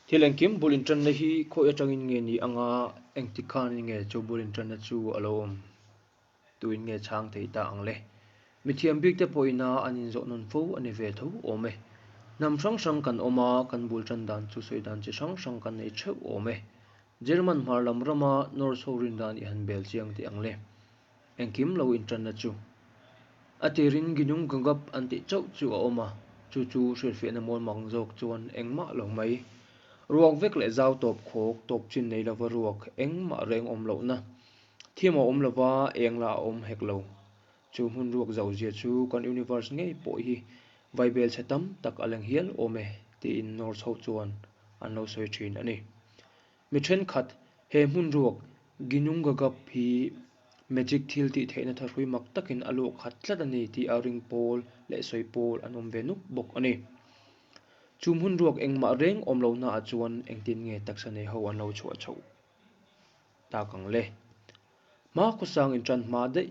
Thil engkim bul inṭanna hi khawi aṭangin nge ni anga engtik khanin nge chu bul inṭanna chu a lo awm tuin nge chhang theih ta ang le. Mi thiam bik te pawhina an inzawh nawn fo a ni ve tho awm e. Hnam hrang hrang kan awm a, kan bul ṭan dan chu sawi dan chi hrang hrang kan nei ṭheuh awm e. German hmar lam rama North ho rindan i han bel chiang teh ang le. Engkim lo inṭanna chu. A tirin Ginung Gagap an tih chauh chu a awm a, chu chu hrilhfiahna mawl mak zawk chuan engmah lo mai. Ruak vek leh zau tawp khawk, tawp chin nei lova ruak, engmah reng awm lohna. Thiam a awm lova eng la a awm hek lo. Chu hmun ruak zau zia chu kan Universe ngei pawh hi vai belchhe tam tak a leng hial awm e tiin North ho chuan an lo sawi ṭhin a ni. Mi thenkhat he hmun ruak Ginungagap hi magic thil tih theihna tha hrui mak takin a luak khat tlat a ni tih a ring pawl leh sawi pawl an awm ve nuk bawk a ni. Chu hmun ruak engmah reng awm lo hnaah chuan engtin nge taksa nei ho an lo chhuah chhoh tak ang le? Hma khawsangin ṭan hma daih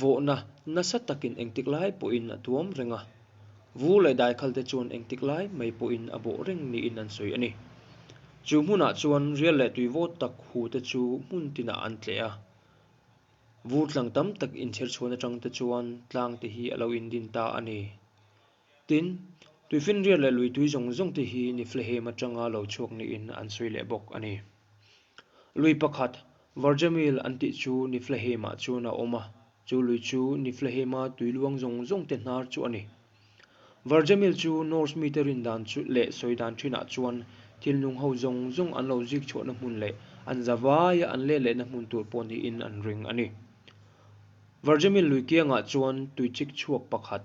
Vawhna nasa takin engtik lai pawhin a tuam reng a, vu leh daikhalte chuan engtik lai mai pawhin a bawh reng niin an sawi a ni. Chu hmunah chuan rial leh tuivawt tak hute chu hmun tinah an tleh a. Vu tlang tam tak inchherchhuan atangte chuan tlangte hi a lo indin ta a ni. Tin, tuifinriat leh luitui zawng zawng te hi Niflehem atanga lo chhuak niin an sawi leh bawk a ni. Lui pakhat, Varjamil an tih chu Niflehemah chuan a awm a, chu lui chu Niflehema tui luang zawng zawng te hnar chu a ni. Varjamil chu Norse mite rindan chu leh sawi dan thinah chuan thilnung ho zawng zawng an lo zik chhuahna hmun leh an za vaia an let lehna hmun tur pawh niin an ring a ni. Varjamil lui kiangah chuan tuichik chhuak pakhat,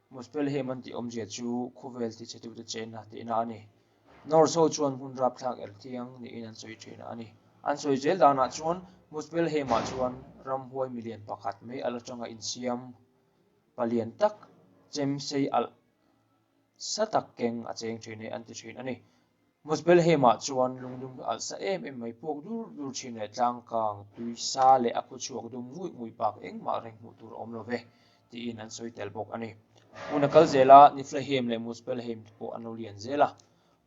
Muspel him an tih awmzia chu khuvel tihchhetute chenna tehna a ni. North ho chuan hmun rapthlak el thiang niin an sawi thin a ni. An sawi zel danah chuan Muspel hima chuan ramhuai milian pakhat mai alh atanga insiam palian tak chemsei alh sa tak keng a cheng thin e an ti thin a ni. Muspelhema chuan lungdum ka alh sa em em mai, puak dur dur thin leh tlang kang tui sa leh a khuchhuak dum nguih nguih pak engmah reng hmuh tur a awm lo ve, tiin an sawi tel bawk a ni. Hmun a kal zel a, Niflahem leh Muspelheim te pawh an lo lian zel a,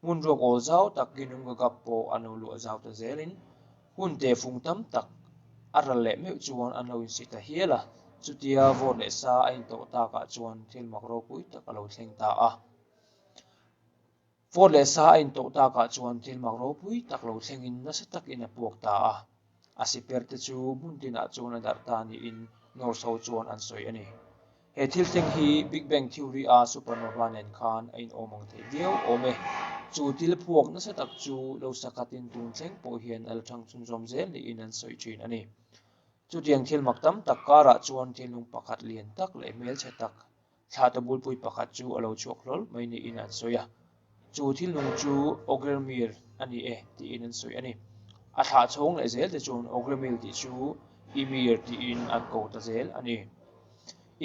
hmun ruak awl zau tak Ginhum Gagap pawh an lo luah zau ta zelin, hun te fung tam tak a ral leh meuh chuan an lo insih ta hial a, chutia vawt leh sa a intawh takah chuan thil mak ropui tak a lo thleng ta a. Phone leh sa a intoh tak ah chuan thil mak ropui tak lo thleng in nasa tak in a puak ta a, a siper te chu hmun tin ah chuan a darh ta ni in Norso chuan an sawi a ni. He thil thleng hi Big Bang Theory a supernova nen khan a inawm ang thei viau awm e. Chu thil phuak nasa tak chu lo sa khat in tun thleng pawh hian a la thang chhun zawm zel ni in an sawi thin a ni. Chutiang thil mak tam tak kar ah chuan thinlung pakhat lian tak leh hmelchhe tak thla tabulpui pakhat chu a lo chhuak hlawl mai niin an sawi a, chu thil nung chu Ogirmir a ni e tiin an sawi a ni. A thla chhawng leh zel te chuan Ogirmil tih chu Ymir tiin an ko ta zel a ni.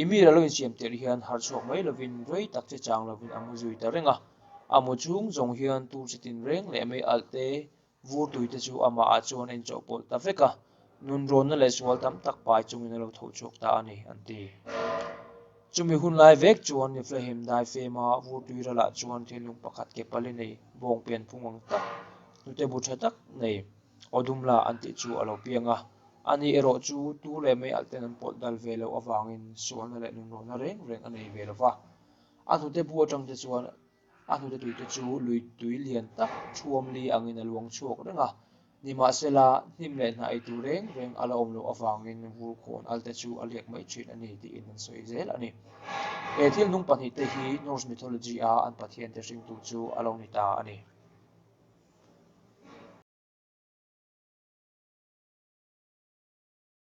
Ymir a lo insiam tel hian har chhuak mai lovin rei tak che chang lovin a mu zui ta reng a, a mu chhung zawng hian tur che tinreng leh mei alh te Vur tui te chu amahah chuan a inchawhpawlh ta vek a, nun rawnna leh sual tam tak pai chungin a lo tho chhuak ta a ni, an ti. Chumi hun lai vek chuan Niflhahim Daifema vur tui ralah chuan thinlung pakhat ke pali nei, bawng pian phung ang tak, hnute bu tha tak nei, aw dum la an tih chu a lo piang a. A nih erawh chu tu leh mai alh ten an pawlh dal ve loh avangin sualna leh nun rawnna reng reng a nei ve lo va. A hnute bu atang te chuan A hnute tuite chu lui tui lian tak thuam li angin a luang chhuak reng a, nimahse la, hnim leh hna eitur reng reng a la awm loh avangin vur khawn alte chu a liak mai thin a ni tiin an sawi zel a ni. He thil hnung pahnih te hi Norse mythology a an pathian te hring tur chu a lo ni ta a ni.